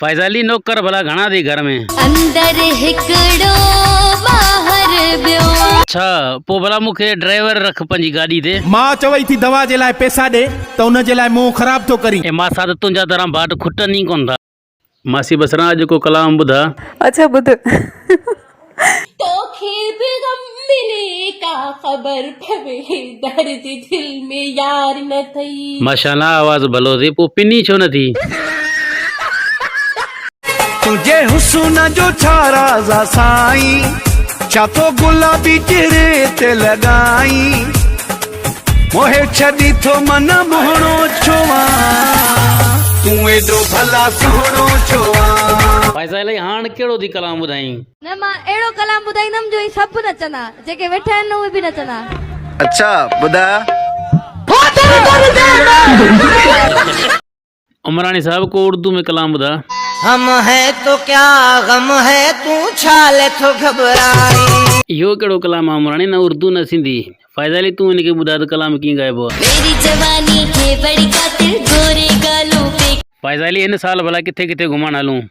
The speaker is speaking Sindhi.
فائزه علي نوڪر ڀلا گهڻا اٿئي گهر ۾. اندر هڪڙو ٻاهر ٻيو. اڇا پو ڀلا مون کي ڊرائيور رک پنهنجي گاڏي تي. ماء چوئي ٿي دوا جي لاء پئسا ڏي ته ان جي لاء منهن خراب ٿو ڪرين. اي ماسا ته تنهنجا دران ڀاٽ کٽن ئي ڪونه ٿا. ماسي بصران اڄ ڪو ڪلام ٻڌاء. اڇا ٻڌ. توکي به غم ملي ڪا خبر پوي درد دل ۾ يار نه ٿئي. ماشاءالله آواز ڀلو ٿي پو پني ڇو نه ٿي. تنهنجي حسن جو ڇا راز آ سائين ڇا تو گلابي چهري تي لڳائين. موهي ڇڏي ٿو من مهڻو ڇو آن. تون ايڏو ڀلا سهڻو ڇو آن. ڀائي سائين الائي هاڻ ڪهڙو ٿي ڪلام ٻڌائين. نه مان اهڙو ڪلام ٻڌائيندم جو هي سڀ نچندا جيڪي ويٺا آهن نه اهي به نچندا. اڇا ٻڌاء. عمراڻي صاحب ڪو اردو ۾ ڪلام ٻڌاء. هم هي تو ڪيا غم هي تون ڇا لئي ٿو گهٻرائين. اهو ڪهڙو ڪلام آ عمراڻي نه اردو نه سنڌي فائزه علي تون هن کي ٻڌاء ته ڪلام ڪيئن ڳائبو آ. ميري جواني کي بڙي قاتل گوري گالون پيڪ. فائزه علي هن سال ڀلا ڪٿي ڪٿي گهمڻ هلون.